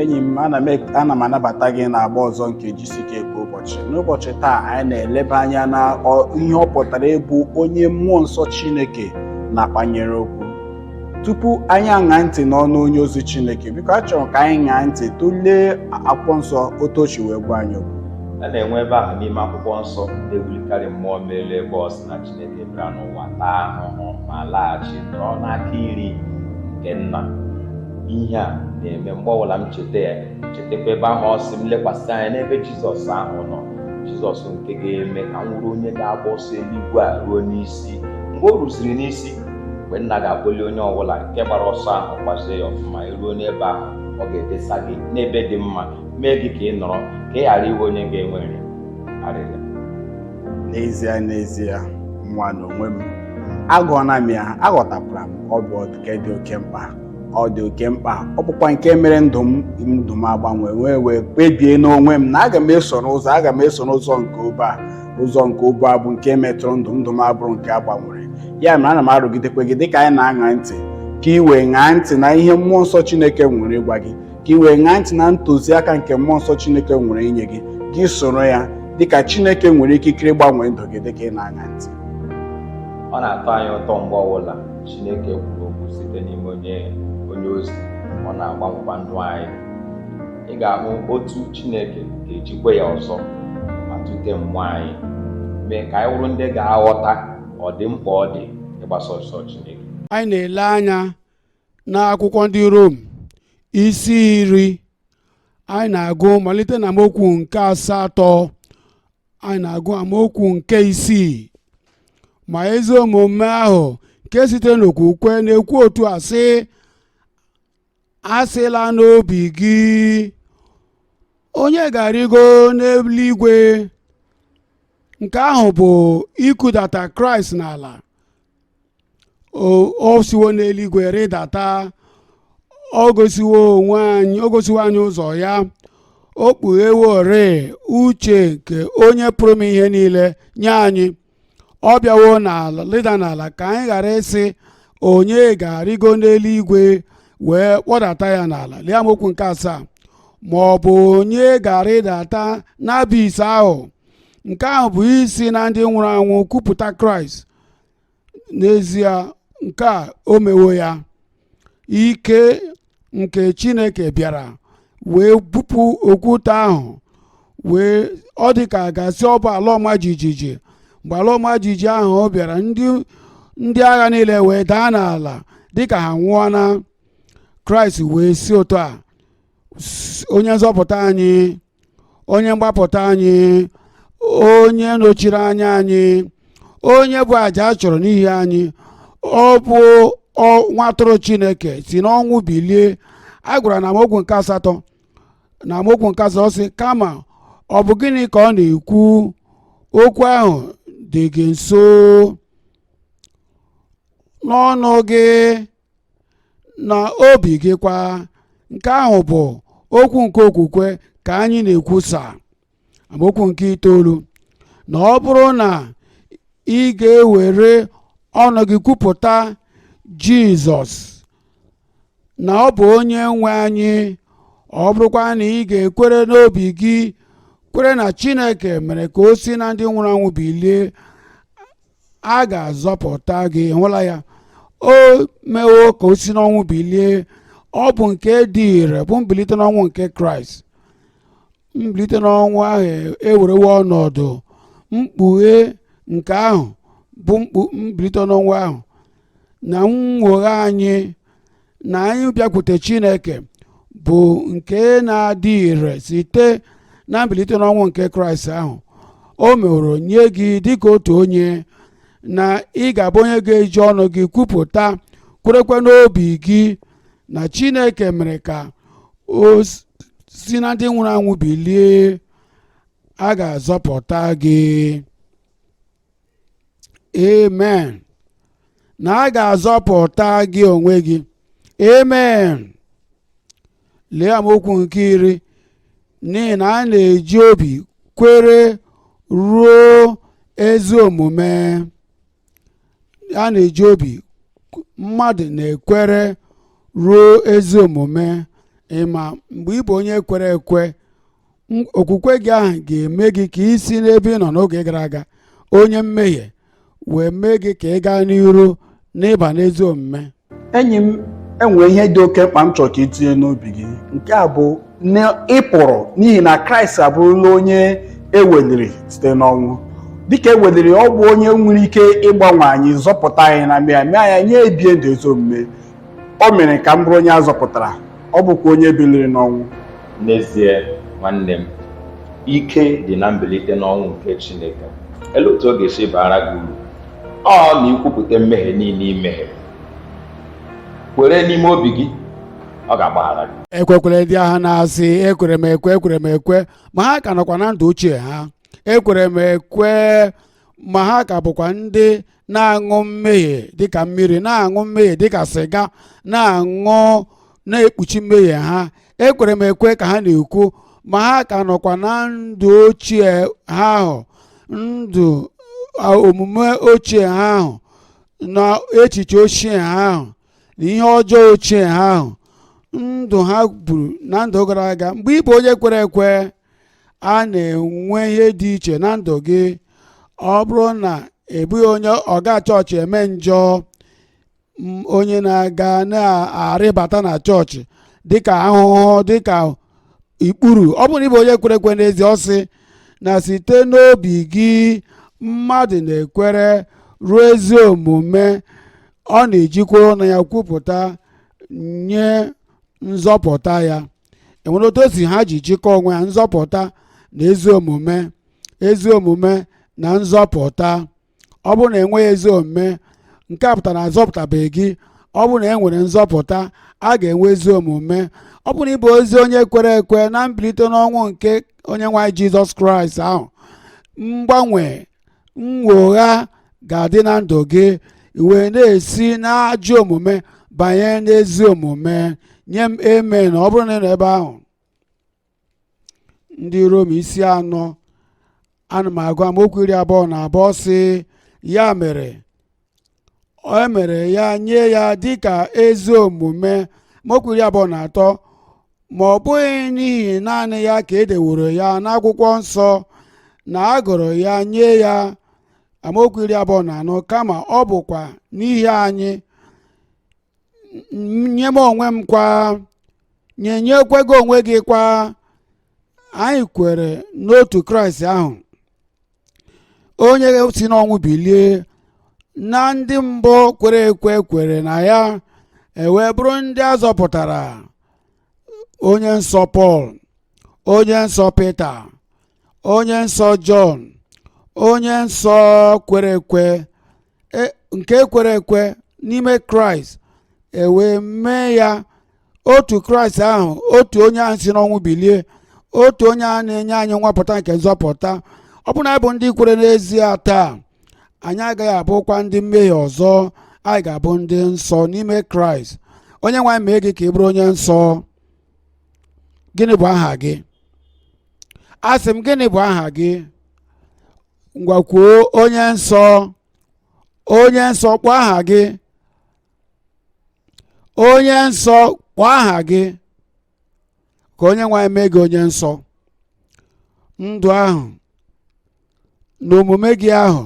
enyi m ana m anabata gị na agba ọzọ nke GCK kwa ụbọchị n'ụbọchị taa anyị na-eleba anya na ihe ọ pụtara ịbụ onye mmụọ nsọ chineke na-akpanyere okwu tupu anyị aṅa ntị n'ọnụ onye ozi chineke biko a chọrọ ka anyị ṅaa ntị tụlee akwụkwọ nsọ otu o si wee gwa anyị okwu a na-enwe ebe ahụ n'ime akwụkwọ nsọ na-ewulikarị mmụọ m elu ebe ọ sị na chi Chineke bịara n'ụwa taa ahụhụ ma laghachi nọrọ n'aka iri nke nna ihe a na-eme mgbe ọbụla m cheta ya chetakwa ebe ahụ ọ sị m lekwasị anya n'ebe jizọs ahụ nọ jizọs nke ga-eme ka m wụrụ onye ga-agba ọsọ eluigwe a ruo n'isi mgbe o ruziri n'isi mgbe nna ga-akpọli onye ọbụla nke gbara ọsọ ahụ gbazie ya ọfụma eruo n'ebe ahụ ọ ga-edesa gị n'ebe dị mma mee gị ka ị nọrọ ka ị ghara ịwụ onye ga-enwere arịrị n'ezie n'ezie nwa n'onwe m agụọna m ya aghọtakwara m ọ bụ nke dị oke mkpa ọ dị oke mkpa ọ bụkwa nke mere ndụ m ndụ m agbanwe wee wee kpebie n'onwe m na aga m eso n'ụzọ aga m eso n'ụzọ nke obe a ụzọ nke obe a bụ nke metụrụ ndụ ndụ m abụrụ nke a gbanwere ya mere ana m arụgidekwe gị dịka anyị na-aṅa ntị ka ị wee ṅaa ntị na ihe mmụọ nsọ Chineke nwere ịgwa gị ka ị wee ṅaa ntị na ntụziaka nke mmụọ nsọ Chineke nwere inye gị gị soro ya dịka Chineke nwere ikikere ịgbanwe ndụ gị dịka ị na-aṅa ntị ọ na-atọ anyị ụtọ mgbe ọbụla Chineke kwuru okwu site n'ime onye onye ozi ọ na-agbanwekwa ndụ anyị ị ga-ahụ otu Chineke ga-ejikwa ya ọzọ ma tute mmụọ anyị mee ka anyị wụrụ ndị ga-aghọta ọdịmkpa ọ dị ịgbasa ọsọ Chineke anyị na-ele anya n'akwụkwọ ndị Rom isi iri anyị na-agụ malite na amaokwu nke asatọ anyị na-agụ amaokwu nke isii ma ezi omume ahụ nke sitere n'okwukwe na-ekwu otu a sị asịla n'obi gị onye ga-arịgo n'eluigwe nke ahụ bụ ikudata kraịst n'ala o siwo n'eluigwe rịdata o gosiwo anyị ụzọ ya o kpugheworị uche nke onye pụrụ ime ihe niile nye anyị ọ bịawo n'ala rịda n'ala ka anyị ghara ịsị onye ga-arịgo n'eluigwe wee kpọdata ya n'ala lee amaokwu nke asaa ma ọ bụ onye ga-arịdata n'abis ahụ nke ahụ bụ isi na ndị nwụrụ anwụ kupụta kraịst n'ezie nke a o mewo ya ike nke chineke bịara wee bupụ okwute ahụ wee ọ dị ka a ga-asị ọ bụ ala ọma jijiji mgbe ala ọma jijiji ahụ ọ bịara ndị ndị agha niile wee daa n'ala dịka ha nwụọna kraịst wee si otu a onye nzọpụta anyị onye mgbapụta anyị onye nọchiri anya anyị onye bụ aja a chụrụ n'ihi anyị ọ bụ nwa atụrụ chineke si n'ọnwụ bilie a gwara na amaokwu nke asatọ na amaokwu nke asatọ sị kama ọ bụ gịnị ka ọ na-ekwu okwu ahụ dị gị nso n'ọnụ gị na obi gị kwa nke ahụ bụ okwu nke okwukwe ka anyị na-ekwusa amaokwu nke itoolu na ọ bụrụ na ị ga-ewere ọnụ gị kwupụta jizọs na ọ bụ onye nwe anyị ọ bụrụkwa na ị ga-ekwere n'obi gị kwere na chineke mere ka o si na ndị nwụrụ anwụ bilie a ga-azọpụta gị hụla ya o mewo ka o si n'ọnwụ bilie ọ bụ nke dị ire bụ mbilite n'ọnwụ nke kraịst mbilite n'ọnwụ ahụ ewerewo ọnọdụ mkpughe nke ahụ bụ mbilite n'ọnwụ ahụ na nnwogha anyị na anyị bịakwute chineke bụ nke na-adị ire site na mbilite n'ọnwụ nke kraịst ahụ o meworo nye gị dịka otu onye na ị ga-abụ onye ga-eji ọnụ gị kwupụta kwerekwa n'obi gị na chineke mere ka o si na ndị nwụrụ anwụ bilie a ga-azọpụta gị amen na a ga-azọpụta gị onwe gị amen lee amaokwu nke iri n'ihi na a na-eji obi kwere ruo ezi omume a na-eji obi mmadụ na-ekwere ruo ezi omume ị ma mgbe ị bụ onye kwere ekwe okwukwe gị ahụ ga-eme gị ka i si n'ebe ị nọ n'oge gara aga onye mmehie wee mee gị ka ị gaa n'iru n'ịba n'ezi omume enyi m e nwere ihe dị oke mkpa m chọrọ ka i tinye n'obi gị nke a bụ na ị pụrụ n'ihi na kraịst abụrụla onye e weliri site n'ọnwụ dịka e weliri ọ bụ onye nwere ike ịgbanwe anyị zọpụta anyị na mmehie mee anyị anyị ebie ndụ ezi omume O mere ka m bụrụ onye a zọpụtara, ọ bụkwa onye biliri n'ọnwụ. N'ezie, nwanne m, ike dị na mbilite n'ọnwụ nke Chineke. Ele otu ọ ga-esi baara gị uru? Ọ na ikwupụta mmehie niile i mehiere. Kwere n'ime obi gị, ọ ga-agbaghara gị. ekwekwere ndị a ha na-asị ekwere m ekwe ekwere m ekwe ma ha ka nọkwa na ndụ ochie ha ekwere m ekwe ma ha ka bụkwa ndị na-aṅụ mmehie dịka mmiri na-aṅụ mmehie dịka sịga na-aṅụ na-ekpuchi mmehie ha ekwere m ekwe ka ha na-ekwu ma ha ka nọkwa na ndụ ochie ha ahụ ndụ omume ochie ha ahụ na echiche ochie ha ahụ na ihe ọjọọ ochie ha ahụ ndụ ha buru na ndụ gara aga mgbe ị bụ onye kwere ekwe a na-enwe ihe dị iche na ndụ gị ọ bụrụ na ị bụghị onye ọga chọọchị eme njọ, onye na-aga na-arịbata na chọọchị dịka ahụhụ dịka ikpuru ọ bụrụ na ị bụ onye kwere ekwe n'ezie ọ sị na site n'obi gị mmadụ na-ekwere ruo ezi omume ọ na-ejikwa ọnụ ya kwupụta nye nzọpụta ya enwere otu o si ha ji jikọọ onwe ha nzọpụta na ezi omume ezi omume na nzọpụta ọ bụrụ na enweghị ezi omume nke a pụtara na azọpụtabeghị gị ọ bụrụ na e nwere nzọpụta a ga-enwe ezi omume ọ bụrụ na ị bụ ezi onye kwere ekwe na mbilite n'ọnwụ nke onye nwe anyị jizọs kraịst ahụ mgbanwe nnwogha ga-adị na ndụ gị wee na-esi n'ajọ omume banye n'ezi omume nye m amen ọ bụrụ na ị nọ ebe ahụ ndị rom isi anọ ana m agụ amaokwu iri abụọ na abụọ sị ya mere o mere ya nye ya dịka ezi omume amaokwu iri abụọ na atọ ma ọ bụghị n'ihi naanị ya ka e deworo ya n'akwụkwọ nsọ na a gụrụ ya nye ya amaokwu iri abụọ na anọ kama ọ bụkwa n'ihi anyị nye m onwe m kwa nye nyekwa gị onwe gị kwa anyị kwere n'otu kraịst ahụ onye si n'ọnwụ bilie na ndị mbụ kwere ekwe kwere na ya e wee bụrụ ndị a zọpụtara onye nsọ pọl onye nsọ pita onye nsọ jọn onye nsọ kwere ekwe e, nke e kwere ekwe n'ime kraịst ewee mee ya otu kraịst ahụ otu onye ahụ si n'ọnwụ bilie otu onye a na-enye anyị nwapụta nke nzọpụta ọ bụ na anyị bụ ndị kwere n'ezie taa anyị agaghị abụkwa ndị mmehie ọzọ anyị ga-abụ ndị nsọ n'ime kraịst onye nwe anyị mee gị ka ị bụrụ onye nsọ gịnị bụ aha gị asị m gịnị bụ aha gị ngwa kwuo onye nsọ onye nsọ kpọọ aha gị onye nsọ kpọọ aha gị ka onye nwe anyị mee gị onye nsọ ndụ ahụ na omume gị ahụ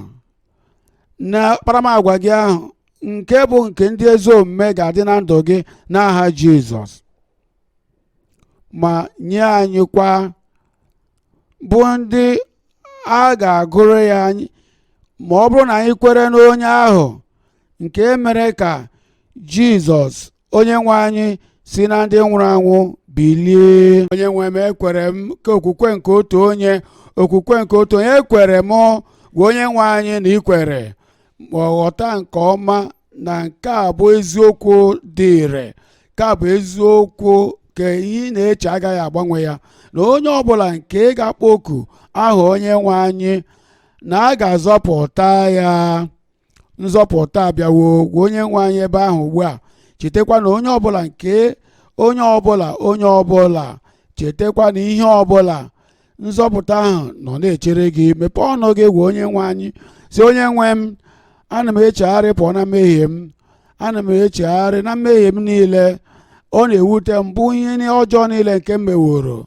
na akparamagwa gị ahụ nke bụ nke ndị ezi omume ga-adị na ndụ gị n'aha Jizọs ma nye anyị kwa bụ ndị a ga-agụrụ ya anyị ma ọ bụrụ na anyị kwere n'onye ahụ nke mere ka jizọs onye nwe anyị si na ndị nwụrụ anwụ bilie onye nwe m ekwere m ka okwukwe nke otu onye okwukwe nke otu onye ekwere m gwa onye nwe anyị na i kwere ma ghọta nke ọma na nke a bụ eziokwu dị ire nke a bụ eziokwu ka ihe ị na-eche agaghị agbanwe ya na onye ọbụla nke ga-akpọku aha onye nwe anyị na a ga-azọpụta ya nzọpụta abịawo gwa onye nwe anyị ebe ahụ ugbu a chetakwa na onye ọbụla nke onye ọbụla onye ọbụla chetakwa na ihe ọbụla nzọpụta ahụ nọ na-echere gị mepee ọnụ gị gwa onye nwe anyị si onye nwe m ana m echegharị pụọ na mmehie m ana m echegharị na mmehie m niile ọ na-ewute m bụ ihe ni- ọjọọ niile nke m meworo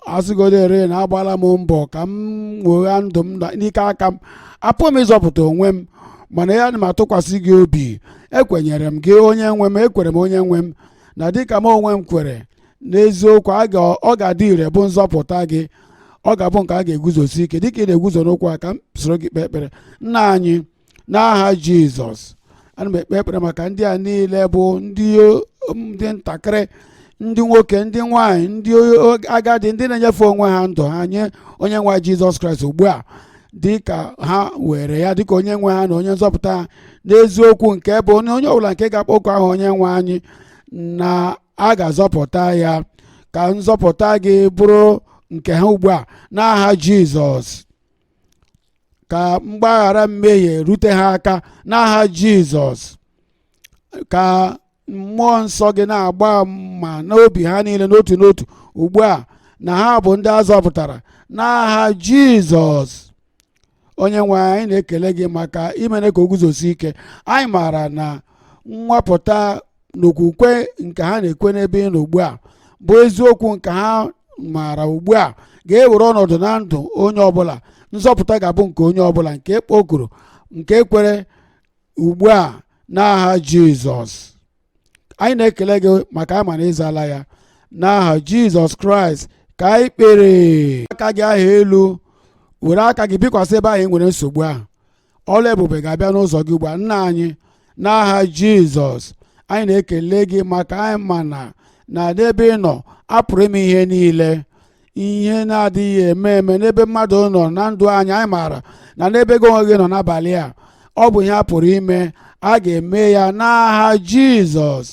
asịgodere na agbala m mbọ ka m nwegha ndụ m na- n'ike aka m apụghị m ịzọpụta onwe m mana ana m atụkwasị gị obi ekwenyere m gị onye nwe m ekwere m onye nwe m na dịka m onwe m kwere n'eziokwu a ga- ọ ga-adị ire bụ nzọpụta gị ọ ga-abụ nke a ga-eguzosi ike dịka ị na-eguzo n'okwu a ka m soro gị kpee ekpere nna anyị n'aha jizọs ana m ekpe ekpere maka ndị a niile bụ ndị o- ndị ntakịrị ndị nwoke ndị nwanyị ndị o- agadi ndị na-enyefe onwe ha ndụ ha nye onye nwe anyị jizọs kraịst ugbu a dịka ha were ya dịka onye nwe ha na onye nzọpụta ha n'eziokwu nke bụ onye onye ọbụla nke ga-akpọku aha onye nwe anyị na a ga-azọpụta ya ka nzọpụta gị bụrụ nke ha ugbu a n'aha jizọs ka mgbaghara mmehie rute ha aka n'aha jizọs ka mmụọ nsọ gị na-agba ama n'obi ha niile n'otu n'otu ugbu a na ha bụ ndị a zọpụtara n'aha jizọs onye nwe anyị na-ekele gị maka imere ka o guzosi ike anyị maara na nwapụta n'okwukwe nke ha na-ekwe n'ebe ị nọ ugbu a bụ eziokwu nke ha maara ugbu a ga-ewere ọnọdụ na ndụ onye ọbụla nzọpụta ga-abụ nke onye ọbụla nke kpokuru nke kwere ugbu a n'aha jizọs anyị na-ekele gị maka anyị ma na ịzala ya n'aha jizọs kraịst ka anyị kpere aka gị ahụ elu were aka gị bikwasị ebe ahụ ị nwere nsogbu ahụ ọlụ ebube ga-abịa n'ụzọ gị ugbu a nna anyị n'aha jizọs anyị na-ekele gị maka anyị maara na n'ebe ị nọ a pụrụ ime ihe niile ihe na-adịghị eme eme n'ebe mmadụ nọ na ndụ anyị anyị maara na n'ebe gị onwe gị nọ n'abalị a ọ bụ ihe a pụrụ ime a ga-eme ya n'aha jizọs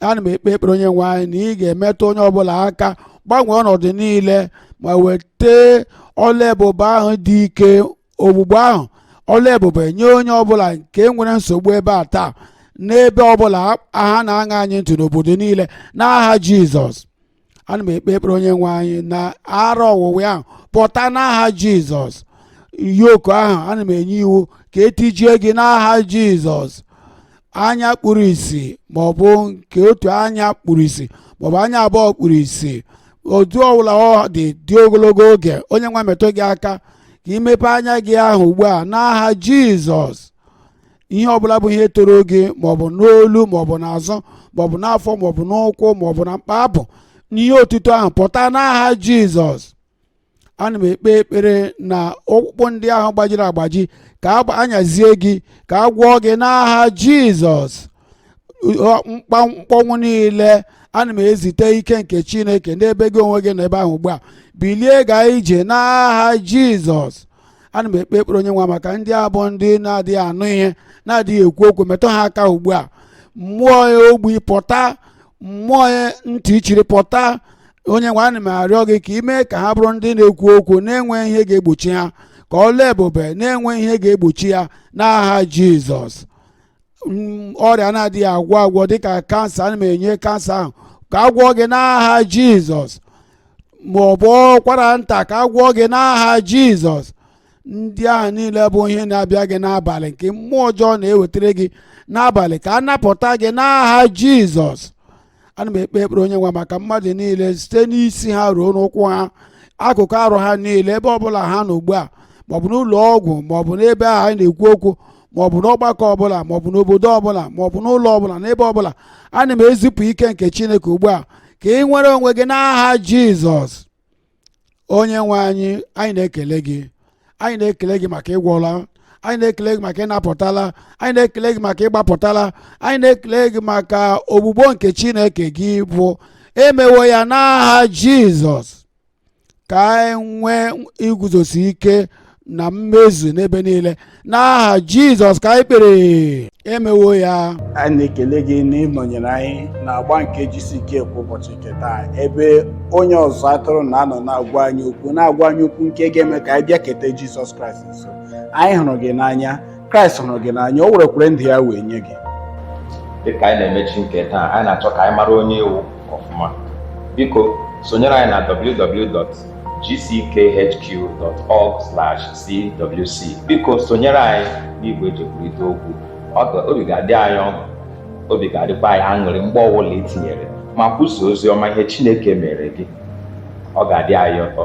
ana m ekpe ekpere onye nwe anyị na ị ga-emetụ onye ọbụla aka gbanwee ọnọdụ niile ma weta ọlụ ebube ahụ dị ike ọgwụgwọ ahụ ọlụ ebube nye onye ọbụla nke nwere nsogbu ebe a taa n'ebe ọbụla ha na-aṅa anyị ntị n'obodo niile n'aha jizọs ana m ekpe ekpere onye nwe anyị na ara ọwụwa ahụ pụta n'aha jizọs yoku ahụ ana m enye iwu ka e tijie gị n'aha jizọs anya kpuru isi maọbụ nke otu anya kpuru isi maọbụ anya abụọ kpuru isi otu ọbụla ọ dị dị ogologo oge onye nwe metụ gị aka ka i mepe anya gị ahụ ugbu a n'aha jizọs ihe ọbụla bụ ihe toro gị maọbụ n'olu maọbụ n'azụ maọbụ n'afọ maọbụ n'ụkwụ maọbụ na mkpa abụ n'ihe otuto ahụ pụta n'aha jizọs ana m ekpe ekpere na ọkpụkpụ ndị ahụ gbajiri agbaji ka a nyazie gị ka a gwọọ gị n'aha jizọs mkpọnwụ niile ana m ezite ike nke chineke n'ebe gị onwe gị nọ ebe ahụ ugbu a bilie gaa ije n'aha jizọs ana m ekpe ekpere onye nwe maka ndị a bụ ndị na-adịghị anụ ihe na-adịghị ekwu okwu metụ ha aka ugbu a mmụọ ya ogbi pụta mmụọ ya ntị chiri pụta onye nwe ana m arịọ gị ka i mee ka ha bụrụ ndị na-ekwu okwu na-enweghị ihe ga-egbochi ha ka ọlụ ebube na-enweghị ihe ga-egbochi ya n'aha jizọs ọrịa na-adịghị agwọ agwọ dịka kansa ana m enye kansa ahụ ka a gwọọ gị n'aha jizọs ma ọ bụ ụkwara nta ka a gwọọ gị n'aha jizọs ndị ahụ niile bụ ihe na-abịa gị n'abalị nke mmụọ ọjọọ na-ewetara gị n'abalị ka a napụta gị n'aha jizọs ana m ekpe ekpere onye nwe maka mmadụ niile site n'isi ha ruo n'ụkwụ ha akụkụ arụ ha niile ebe ọbụla ha nọ ugbu a maọbụ n'ụlọ ọgwụ maọbụ n'ebe a anyị na-ekwu okwu maọbụ n'ọgbakọ ọbụla maọbụ n'obodo ọbụla maọbụ n'ụlọ ọbụla n'ebe ọbụla ana m ezipụ ike nke chineke ugbu a ka ị nwere onwe gị n'aha jizọs onye nwe anyị anyị na-ekele gị anyị na-ekele gị maka ị gwọọla anyị na-ekele gị maka ị napụtala anyị na-ekele gị maka ị gbapụtala anyị na-ekele gị maka ogbugbo nke chineke gị bụ emewo ya n'aha jizọs ka anyị nwee iguzosi ike na mmezu n'ebe niile n'aha jizọs ka anyị kpere emewo ya anyị na-ekele gị na ị nọnyere anyị n'agba nke gck kwa ụbọchị nke taa ebe onye ọzụzụ atụrụ na-anọ na-agwa anyị okwu na-agwa anyị okwu nke ga-eme ka anyị bịaketa jizọs kraịst nso anyị hụrụ gị n'anya kraịst hụrụ gị n'anya o werekwere ndụ ya wee nye gị dịka anyị na-emechi nke taa anyị na-achọ ka anyị mara onye ị wụ ọfụma biko sonyere anyị na www.gckhq.org/cwc biko sonyere anyị n'igwe eji ekwurịta okwu obi ga-adị anyị ọṅụ obi ga-adịkwa anyị aṅụrị mgbe ọbụla i tinyere ma kwusa ozi ọma ihe Chineke mere gị ọ ga-adị anyị ụtọ